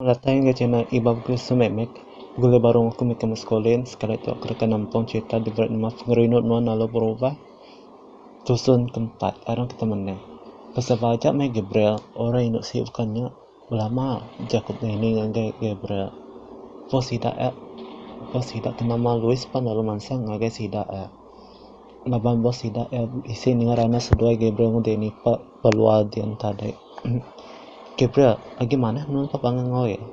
Meratai enggau channel Ibau Chris Sumemek, Gule Barong aku mih ke Muscolin sekali tu aku deka nempung cherita The Great Muff ngerindu nuan lalu berubah. Tusun ke empat, Arang kita menang. Pasal ba aja meh Gabriel, orang indu siu baka nya, belama ja aku benining ngagai Gabriel. Post sida eh post sida ke nama Louis pan lalu mansang ngagai sida eh. Laban bos sida eh bisi ninga ranas seduai Gabriel ngu Danny pek. Peluar dian tadi. Gabriel, agi manah nuan ka pangan enggau iya?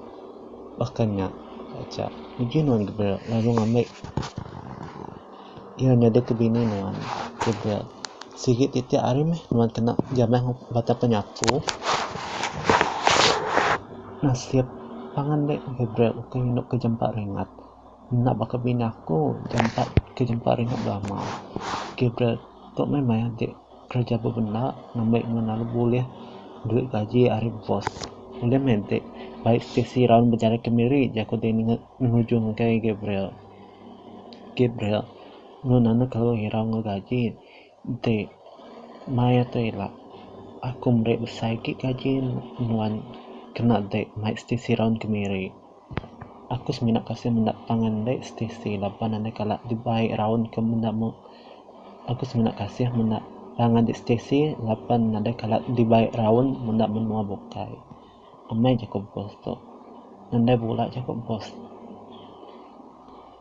Baka nya aja, uji nuan Gabriel lalu ngambi iya nyadika bini nuan. Gabriel, sigi titik hari meh nuan kena jamah enggau Batang Penyapu. Nasib pangan enda Gabriel ukai ngindu ke jampat ringat. Enda baka bini aku jampat ke jampat ringat belama. Gabriel, tu meh maya agi. Kereja bebena ngambi ngenalu bulih duit gaji ari bos. Ulih meh enti bai sesi raun bejari kemiri, jaku ti ngenuju ngagai Gabriel. Gabriel ulih nanek kelu irau enggau gaji enti maya tu ila, Aku meri besai agi gaji nuan kena dek mai sesi raun kemiri. Aku semina kasih menda tang ande stesi laban ande kala dibai raun ke menda meh. Aku semina kasih menda tang ande stesi laban ande kala dibai raun menda menua bukai. Amai jaku bos tu. Nadai bula jaku bos.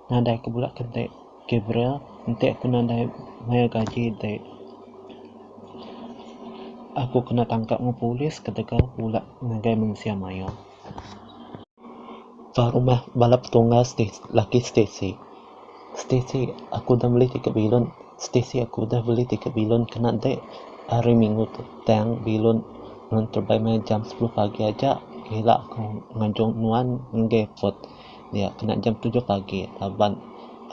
Nadai aku bula ke dek Gabriel enti aku nadai mayar gaji dek. Aku kena tangkap enggau polis ketegal bula ngagai mensia mayuh. Ba rumah bala petunggal laki Stacey. Stacey aku udah meli ti ka bilun, Stacey aku udah meli ti ka bilun kena deh hari minggu tu tang bilun nuan terebai meh jam sepuluh pagi aja ila aku ngajung nuan ngagai airport dia kena jam tujuh pagi laban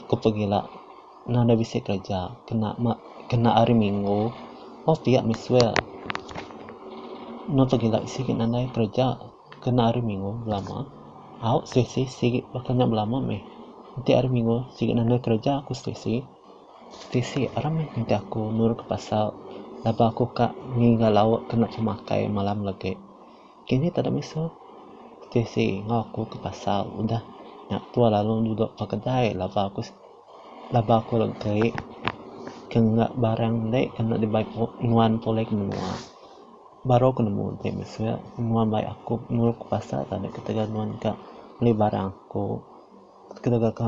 aku pegila. Nadai bisi kereja kena kena hari minggu oh pia meh suel. Eno tau gila bisi gin nadai kereja kena hari minggu belama au selesa sigi baka nya belama meh enti hari minggu sigi nadai kereja ku selesa. Selesa aram meh enti aku nurut pasal laban aku ka ngiga lauk kena temakai malam legi. Kini tada mesu selesa enggau aku ke pasal udah nya tua lalu dudok ba kedai laban aku. Laba aku lalu teri ke ngena barang ende ke enda dibai nuan pulih ke menua. Baru aku nemu ti mese nuan mai aku nulung aku pasar tadi ketegal nuan ka meli barang aku ketegal ka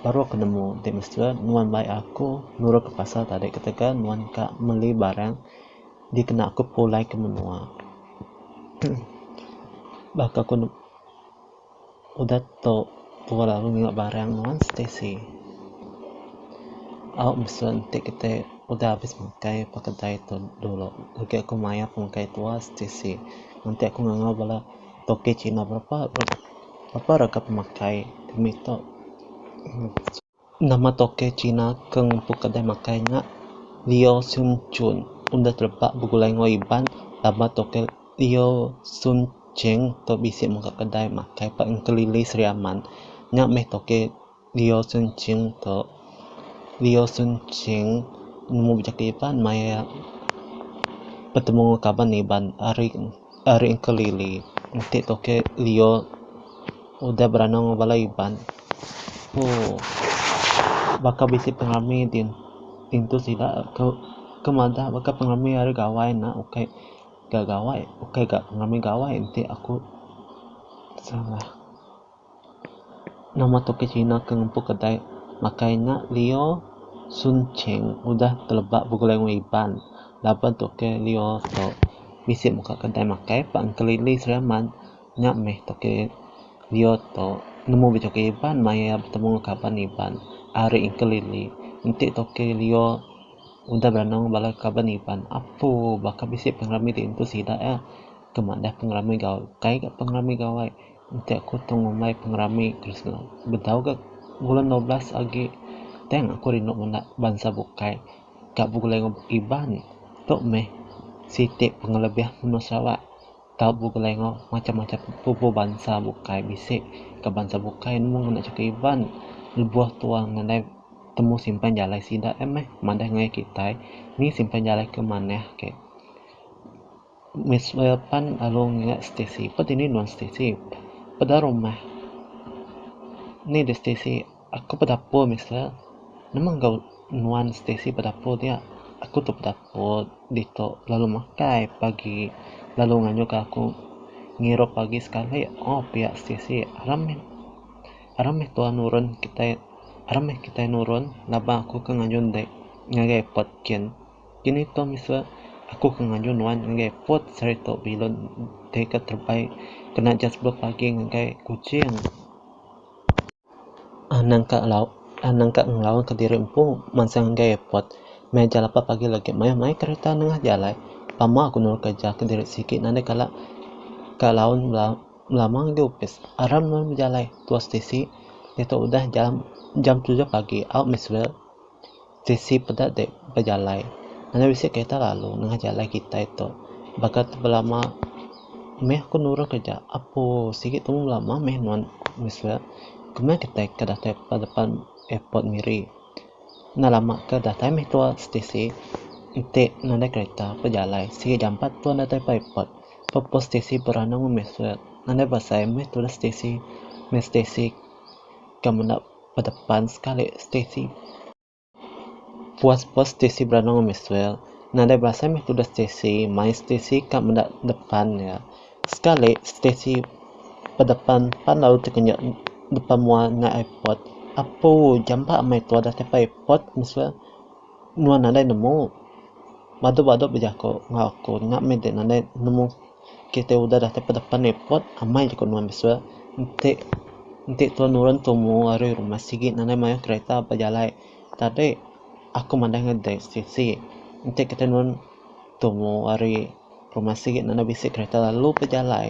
baru aku nemu ti mese nuan mai aku nulung aku pasar tadi ketegal nuan ka meli barang dikena aku pulih ke menua. Baka aku. Udah tu tua lalu ninga barang nuan Stacey. Au mesu enti kitai udah abis makai ba kedai tu dulu agi aku mayar pengkai tua Stacey. Enti aku ngangau bala toke cina berapa berapa rega pemakai kami tu. Nama tokoh Cina ke ngempu kedai makai nya Liu Sun Chun enda terebak begulai enggau Iban laban tokoh Liu Sun Cheng tu bisi muka kedai makai ba Engkelili Sri Aman. Nya meh tokoh Liu Sun Cheng tu. Liu Sun Cheng nemu bejaka Iban maya betemu enggau kaban Iban ari. Ari engka Lily enti tu ke Leo udah berandau enggau bala Iban. Ooh baka bisi pengerami di intu sida ke ke madah baka pengerami ari gawai enda ukai ga gawai ukai ga pengerami gawai enti aku salah. Nama tu ke Cina ke ngempu kedai makai nya Lio Sun Cheng udah teleba begulai wang Iban laba tu ke Lio tu bisi muka kedai makai pang kelili Sri Aman nya meh tu ke Lio tu nemu bejuki Iban mai iya betemu enggau kaban Iban ari kelili enti tu ke Lio udah beranang bala kaban Iban apu baka bisi pengerami ti empu sida iya ke madah pengerami gaul kai ka pengerami gawai. Enti aku tu ngumbai pengerami Kristena bedau gak bulan dua belas agi tang aku rindu menda bansa bukai ka begulai enggau Iban tu meh siti pengelebih menua Sarawak tau begulai enggau macam-macam pupu bansa bukai bisi ka bansa bukai mung enda suka Iban lebuh tu wang nadai temu simpan jalai sida meh madah enggau kitai ni simpan jalai ke manah ke. Miss Wei pan lalu ngingat Stacey. Peda dini nuan Stacey? Peda rumah. Ni dek Stacey, aku bedapur Mister. Nama enggau nuan Stacey bedapur dia? Aku tu bedapur ditu lalu makai pagi lalu ngayuhka aku ngirup agi sekali. Oh pia Stacey, aram meh aram meh tua nurun kitai aram meh kitai nurun laban aku ke ngayun dek ngagai pet kin. Kini tu misa aku ke ngaju nuan ngagai Port Serito Bilun ti ke terbaik kena jas bek pagi ngagai Kuching. Anang ka ngelawa anang ka ngelawa ke diri empu mansang ngagai airport. Meh jam lapan pagi legi mayuh mai kereta nengah jalai. Pama aku nulung kereja ke diri sigi nadai kala ka laun belama ngagai opis. Aram nuan bejalai tua stesi diatu udah jam jam tujuh pagi. Au Miss Wel. Stesi peda dek bejalai ngena bisi kereta lalu nengah jalai kitai tu baka tu belama meh ku nurun keja apuu sigi tumu belama meh nuan mese keman kitai ke datai ba depan airport miri enda lama ke datai meh tua stesi enti nadai kereta bejalai sigi jampat tua datai ba airport pa pun stesi beranum meh mese nadai besai meh tulah stesi meh stesi ke menda. Bedepan sekali Stacey. Puas puas Stacey beranau ngan Maxwell. Nadai berasai meh tudah Stacey, mai Stacey ka meda depan iya. Sekali Stacey bedepan pan lalu tekenyek depan mua endai ai pot. Apu jampa amai tua dah tepa ai pot Maxwell. Nuan nadai nemu. Badu badu bejaku enggau aku nya meh dek nadai nemu. Kita udah datai pedepan airport, amai jeko nuan besua. Enti enti tau nurun tumu ari rumah sigi nadai mayuh kereta bejalai. Tadi aku madai enggau dek siti, enti kita nurun tumu ari rumah sigi nadai bisi kereta lalu bejalai.